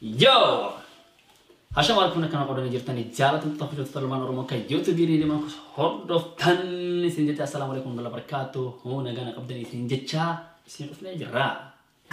Yoo! Hasha maal kun akkana qoodanii jirtanii jaalattoota hojjettoota ilmaan Oromoo kan YouTube riidima hordoftan isin jecha assalaamu alaikum wala barakaatu hoo nagaan qabdanii isin jecha isin dhufnee jirra.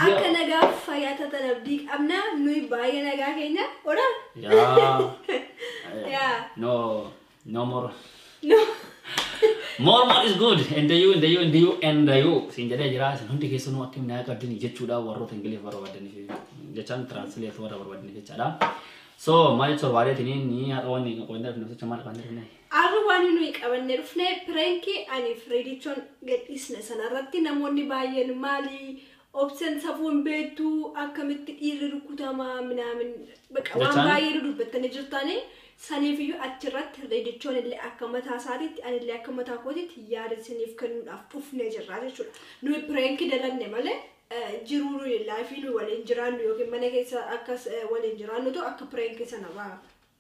Akka nagaaf fayyaa tatan abdii qabna nuyi baay'ee nagaa keenya ora Yeah. Yeah. No, no more. no More more is good. And the you, and the you, and the you, and the you. Siin jedhee jira. Isin hundi keessanuu akka minaa qabdanii jechuudha warroota Ingiliif warra barbaadaniif jechaan translate warra barbaadaniif jechaadha. So maal jechuun waaleetiin inni haadha wanni qoindaaf namticha maal qabanne Arra waani nuyi qabanne dhufne pirenki aniif ridichon gadhiisne sana irratti namoonni baay'een maali obsen safuu hin beektu akkamitti dhiirri rukutama minaamin baqa waan Jechaan? baay'ee nu dubbattanii jirtaani saniifiyyuu achirratti ridichoon illee akka mataa isaatiitti anillee akka mataa kootiitti yaada isiniif kennuudhaaf dhufnee jirra jechuudha nuyi pirenki dalanne malee eh, jiruu nuyi laayifii nuyi waliin jiraannu yookiin mana keessa akkas eh, waliin jiraannutu akka pirenki sana ba'a.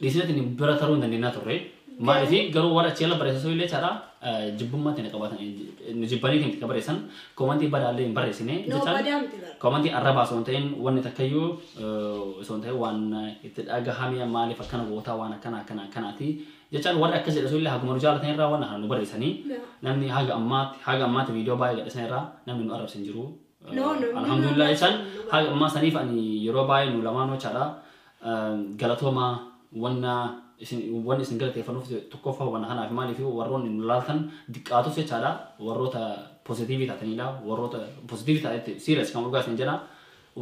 Dhiisina tini bira taruu hin dandeenyaa turre. Maaliif garuu warra achi ala barreessan sun illee jechaadha jibbummaa tana qabaatan nu jibbaniiti miti ka barreessan koomantii badaa illee hin barreessine No jechaan badaa miti bara. koomantii arrabaa osoo hin ta'in wanni takkayyuu eh, osoo hin ta'in waan itti dhagahame maaliif akkana gootaa waan akkana akkana akkanaati jechaan warri akkas jedhe sun illee haguma nu jaalatan irraa waan kana nu barreessanii No. namni haga ammaatti haga ammaatti viidiyoo baay'ee gadhisan irraa namni nu arrabse hin jiru. No, no, no, Alhamdulillah no, no, jechaan no, no. haga ammaa saniif ani yeroo baay'ee nu lamaanuu jechaadha Galatooma wanna isin wanni isin galateeffannuuf tokkoffaa hubanna kanaaf maaliif warroonni nu laaltan diqqaatus jechaadha warroota positiivii taataniidha warroota positiivii taatanitti serious kan dhugaa isin jedha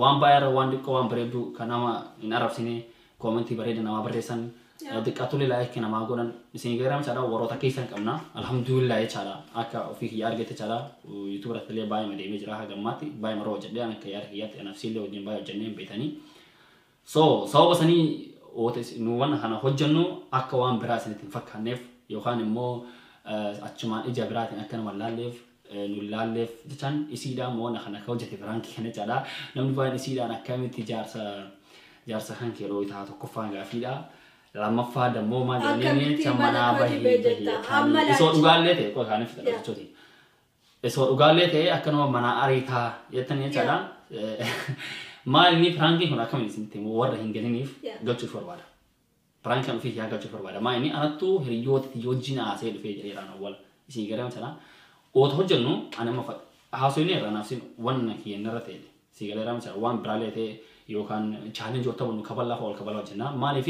waan baay'ee irra waan diqqoo waan bareedduu kan nama hin arrabsine koomentii bareeda namaa barreessan diqqaatullee laayikii namaa godhan isin gaheeram jechaadha warroota keessan qabna alhamdulillah jechaadha akka ofii kiyya argetti jechaadha yuutuuba irrattillee baay'ee madeemee jira hagammaatti baay'ee maroo hojjedhee an akka yaada kiyyaatti anafsiillee wajjin baay'ee hojjennee hin beekanii So, sababa sanii wota is- nu wanna kana hojjannu akka waan biraa isinitti hin fakkaanneef yookaan immoo eh, achumaan ija biraatiin akka nama hin laalleef eh, nu hin laalleef jechaan isiidhaan immoo wanna kana akka hojjete biraankii kana jechaadha. Namni baay'een isiidhaan akkamitti jaarsa jaarsa kan kee dhooytaa tokkoffaan gaafiidha. Lammaffaa dammoo maal jedhanii Akkamitti jecha mana manaa koo bahii jibee jetta? bahii Amma jettaanii. Isoo laatti. dhugaallee ta'e qoy kaaniif Yaa. jechuuti. Esoo dhugaallee ta'ee akka nama manaa ariitaa jettan jechaadha. Maal inni piraankiin kun akkamiin isinitti himu warra hin galiniif Yeah. galchuuf barbaada. Piraankiin ofii yaa galchuuf barbaada. Maal inni anattu hiriyoota itti wajjin haasee dhufee jedheeraan awwal isin galee jechaadha. Oota hojjennu ani amma fa- haasofni irraa naaf sin wanna kiyya narra ta'e si galee raamsa waan biraallee ta'e yookaan chaalenjii wata bunnu kabalaa fa'aa ol kabalaa hojjenna. Maaliif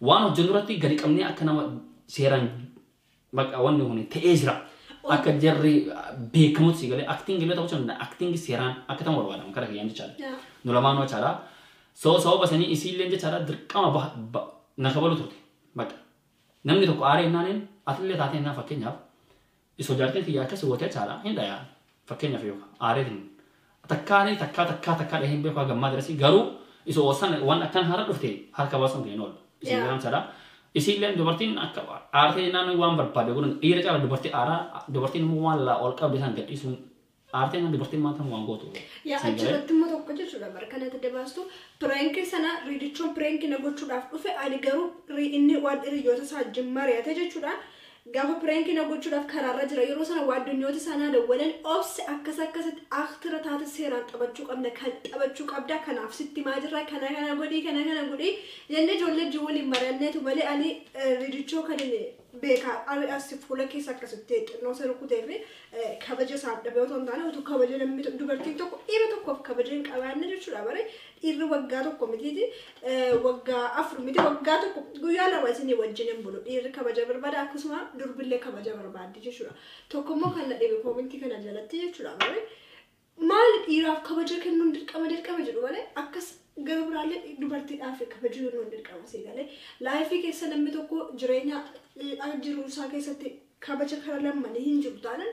waan hojjennu irratti gadi qabnee akka nama seeraan Bakka wanni kun ta'ee jira. Akka jarri beekamutti si galee acting illee ta'uu danda'a. Acting seeraan akka ta'u barbaadama kara kiyyaan jechaadha. Yaa. Nu lamaanuu jechaadha. So sababa sanii isii illee jechaadha dirqama bah, ba, na kabaluu turte. Bakka. Namni tokko aaree hinnaaniin atillee taatee hinnaan fakkeenyaaf iso jaartiin kiyya akkasi goote jechaadha hin dhayaa. Fakkeenyaaf yoo aareetiin takkaa ni takkaa takkaa takkaa dhahee hin beeku haga ammaa darasii garuu isa oosan waan akkana har'a dhufte harka baasuun kee hin oolu. Isin Yeah. garaan sadhaa. Isiilleen dubartiin akka aartee jennaan waan barbaade godhan dhiira caala dubartii aaraa dubartiin immoo waan laa ol qabde isaan gadhiisuun aartee jennaan dubartiin maanta waan gootu. Yaa Siin galee? achirratti immoo tokko jechuudha bara kanatti adda baastu pireenkii sana riidichoon pireenkii na gochuudhaaf dhufe ani garuu ri- inni waan hiriyoota isaa wajjin mari'ate jechuudha Gafa piranki na gochudhaf kararra jira yeroo sana waadonyooti isaa naa dawwalan obse akkas akkasitti aktira taate seeraan xabachuu qabna kan xabachuu qabda kanaaf sitti himaa jirra kana kana godhii kana kana godhii jenne ijoollee wajjin waliin mari'anneetu malee ani ridichoo kan inni beekaa ari assi fuula keessa akkasitti xinnoo isa rukutee fi kabaja isaaf dhabee otoo hin taane utuu kabaja namni dubartiin tokko dhiira tokkoof kabaja hin qabaanne jechuudha bare Dhiirri waggaa tokko mitiiti, waggaa afur miti, waggaa tokko guyyaa lama isinii wajjin hin bulu. Dhiirri kabaja barbaada akkasuma durbillee kabaja barbaaddi jechuudha. Tokkommoo kan na dhibe koomentii kana jalatti jechuudha malee maali dhiiraaf kabaja kennuun dirqama dirqama jedhu malee akkas gara biraallee dubartiidhaaf kabaja kennuun dirqama sii galee laayifii keessa namni tokko jireenya jiru isaa keessatti kabaja kara lammanii hin jiru taanan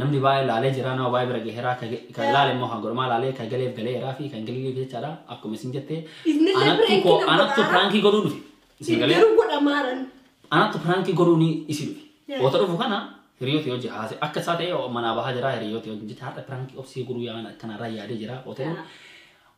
Namni baay'ee laalee jira nama baay'ee bira gaheera ka ge- kan laale immoo kan godhamaa laalee kan galeef galeeraa fi kan galiif jechaadha akkuma isin jette Innillee anattu prank koo nama anattu godhaa. piraankii godhuu dhufe isin galee Garuu godhamaaran. anattu piraankii godhuu ni isi dhufe Yeah. oota dhufu kana hiriyooti yoo jihaase akka isaa ta'e manaa bahaa jira hiriyooti yoo jecha har'a piraankii obsee godhuu yaaman akkanarraa yaadee jira oota Yeah.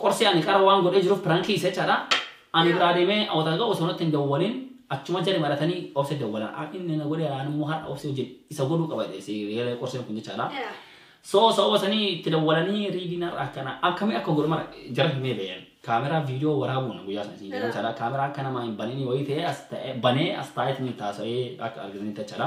Qorsii ani qara waan godhee jiruf pirankii isa jechadha ani biraa demee awata ga'u osoo natti hin dawwalin achuma jari maratanii obse dawwala inni na godhe ani immoo har'a obse wajjin isa godhuu qaba jedhe si galee qorseen kun jechadha so sababa sanii itti dawwalanii riidii narra akkana akkamii akka godhu mara jara himee ba'een kaameraa viidiyoo waraabuun guyyaa sana isin jedhan jechadha kaameraa akka namaa hin banini wayii ta'ee as ta'e banee as taa'eetiin itti haasa'ee akka argitanitti jechadha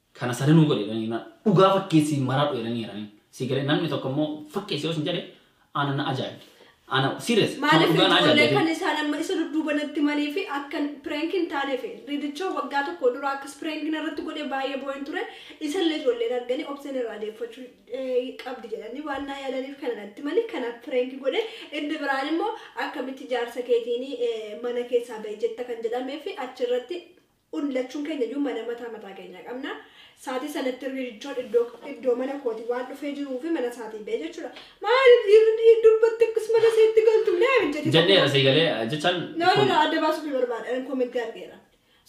Kana sadanuu godhi jedhanii jennaan dhugaa fakkeessii maradhu jedhanii jedhaniin. Sii galee namni tokko immoo fakkeessi yoo sin jedhe ana na ajaa'ibde. Ana serious kan Maaliif dhugaa na ijoollee ajaa'ibde. kan isaan amma isa dudduuba natti himanii fi akkan prank hin taaneef ridichoo waggaa tokko dura akkas prank narratti godhe baay'ee boo'een ture isallee ijoolleen arganii obseen irraa deeffachuu eh, qabdi jedhanii waan naa yaadaniif kana natti himanii kana prank godhe inni biraan immoo akkamitti jaarsa keetiin eh, mana keessaa bahi jetta kan jedhamee fi achirratti un lachuun keenya iyyuu mana mataa mataa keenyaa qabna. Saatii sanatti Riichoon iddoo iddoo mana kooti waan dhufee jiruu fi mana saatii ba'e jechuudha. Maaliif dhiirri dubbatti akkas mana seetti galtu milee hojjete. Jadheera sii galee jechaan. No no no adda baasuu fi barbaada ani koomentii argeera.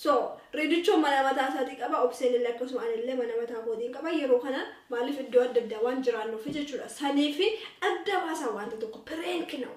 So Riichoon mana mataa isaatii qaba obseen illee akkasuma ani illee mana mataa kootiin qaba yeroo kana maaliif iddoo adda addaa waan jiraannuuf jechuudha. Sanii fi adda baasaa wanta tokko pireenki na'u.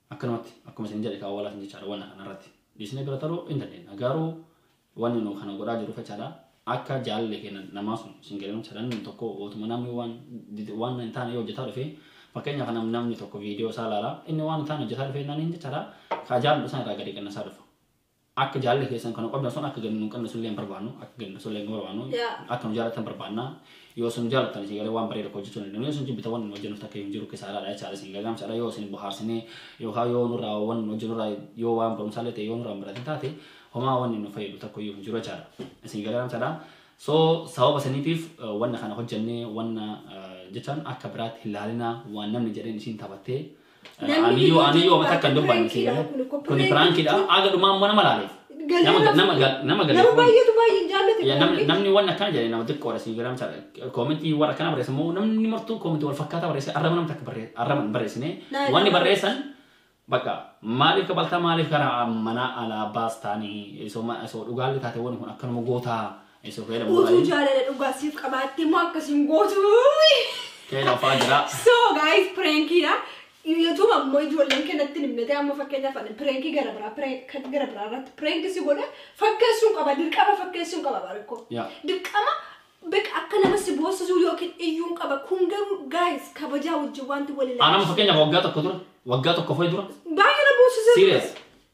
Akkanumatti akkuma isin jedhe kaa walatin jechaadha wanna kana irratti dhiisnee bira taruu in dandeenya garuu wanni nu kana godhaa jiru fachaadha akka jaalalli keenya namaa sun isin galee fachaadha namni tokko ootuma namni waan waan hin taane yoo hojjetaa dhufe fakkeenya kana namni tokko viidiyoo isaa laala inni waan hin taane hojjetaa dhufe innaan hin jechaadha kaa jaalalli isaan irraa gadi qannasaa dhufa Akka jaalalli keessan kan nu qabdan sun akka gadi nu hin qabne sullee hin barbaannu. Akka gadi nu sullee hin barbaannu. Yaa. Akka nu jaalattan barbaanna. Yoo isin nu jaalattan isin galee waan bareeda akka hojjechuu dandeenya. Yoo isin jibbitan wanni nu hojjennuuf takka hin jiru kisaaraadha jechaadha isin gagaamsaadha. Yoo isin bohaarsinee yookaan yoo nurraa wanni nu hojjennurraa yoo waan barumsaallee ta'e yoo nurraa hin baratin taate homaa wanni nu fayyadu takka iyyuu hin jiru jechaadha. Isin galee jechaadha. So sababa saniitiif eh, wanna kana hojjennee wanna eh, jechaan akka biraatti hin laalinaa waan namni jedheen isiin taphattee Aniyyuu aniyyuu wama takka hin dubbanne si galee. Kuni piraankiidha. Aga dhumaa immoo nama laale. Nama nama nama Nama galee. baay'eetu baay'ee hin jaallate. Ya, namni namni waan akkana jedhe nama xiqqoodha si galee misaal koomentii warra akkana barreessan immoo namni martuu koomentii wal fakkaataa barreessan arraba namni takka barreessan arraba hin barreessine Laa ilaaha wanni barreessan bakka maaliif kabaltaa maaliif gara manaa alaa baastaanii isoo ma- isoo dhugaalli taate wanni kun akkanuma gootaa Isa feela Utuu muraayi. jaalala dhugaa siif qabaattee immoo akkas hin gootu. Feela afaa jira. So guys prankiidha. Youtube ammoo ijoolleen kennatti himnete amma fakkeenyaaf ani pirankii gara biraa prank- kan gara biraa irratti pirankii si godhe fakkeessuun qaba dirqama fakkeessuun qaba barikko. Yaa. Dirqama beeka akka nama si boossisuu yookiin iyyuun qaba kun garuu guys kabajaa wajjin wanti wal Anam ilaalchisu. fakkeenyaaf waggaa tokko dura. Waggaa tokko fa'i dura. Baay'ee na boossisee. Serious.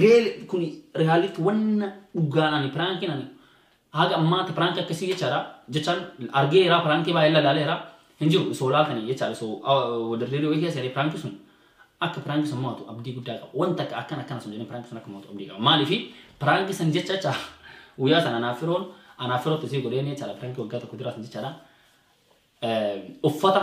Reel kuni realitti wanna dhugaan ani piraankiin ani haga ammaatti piraanki akkasii jechaadha jechaan argeera piraankii baay'ee lalaaleera hin jiru isoo laaltanii jechaadha isoo dirree dhiyoo keessa jedhee piraanki sun akka piraanki sun mo'atu abdii guddaa qaba wanta akka akkana akkana sun jedhee piraanki sun akka mo'atu abdii qaba maaliifi piraanki san jecha jecha guyyaa sana anaaf firoon anaaf firootti isii godheen jechaadha piraanki waggaa tokko duraa sun jechaadha uffata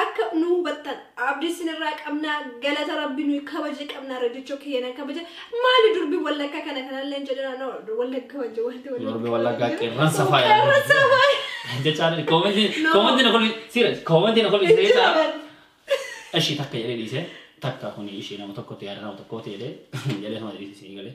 Akka nu hubattan abdi sin irraa qabna galata rabbi nuyi kabaje qabna redicho kiyana kabaje mali durbi wallakka kana kanallen jedhana no wallagga wajje wanti wallagga Durbi wallaggaa qeerransa faaya. qeerransa faaya Jechaan koomentii No. koomentii na kolfi siira koomentii na kolfi Hin siira jira bar. ishii takka jedhee dhiise takka kuni ishii nama tokkotti yaada nama tokkooti jedhee jedhee nama dhiise siin galee.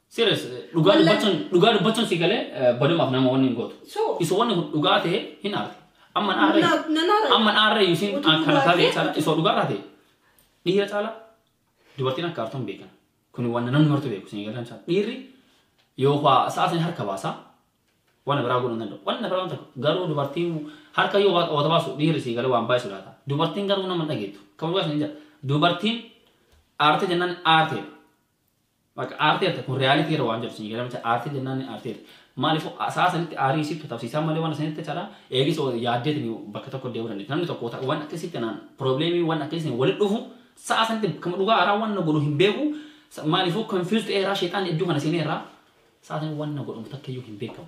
Serious dhugaa Wallahi. dubbachuun dhugaa dubbachuun si galee eh, badumaaf nama wanni hin gootu. So. Isa wanni kun dhugaa ta'e hin aarte. Amma Na- naarree. na naarree. Amma naarree yuusin Utuu akkana dhugaa taatee ta'e, caala utuu- isa dhugaa irraa ta'e. Dhiira caala dubartiin akka aartu hin beekan. Kun waan namni martu beeku isin eegalaan caala. Dhiirri yoo waa sa'a isin harka baasaa waan biraa godhuu hin danda'u. Waan biraa waan tokko garuu dubartiin harka yoo waa- wata baasu dhiirri si galee waan baay'isu laata. Dubartiin garuu nama hin dhageettu. Kan dhugaa isin hin jedha. Dubartiin aarte jennaan aarteedha. Bakka aarteerta kun reality irra waan jiru sii gala macha aartee jennaan ni aarteerta. Maaliif sa'a sanitti aarii isii katabsiisaa malee waan sanitti chala eegis yaaddeetiin bakka tokko deemuu dandeetti. Namni tokko waan akkasii kanaan probleemii waan akkasii sana walitti dhufu sa'a sanitti kama dhugaa aaraa waan na godhu hin beeku maaliifuu confused eeraa sheexaan iddoo kana seenee irraa sa'a sanitti waan na godhamu takka iyyuu hin beekamu.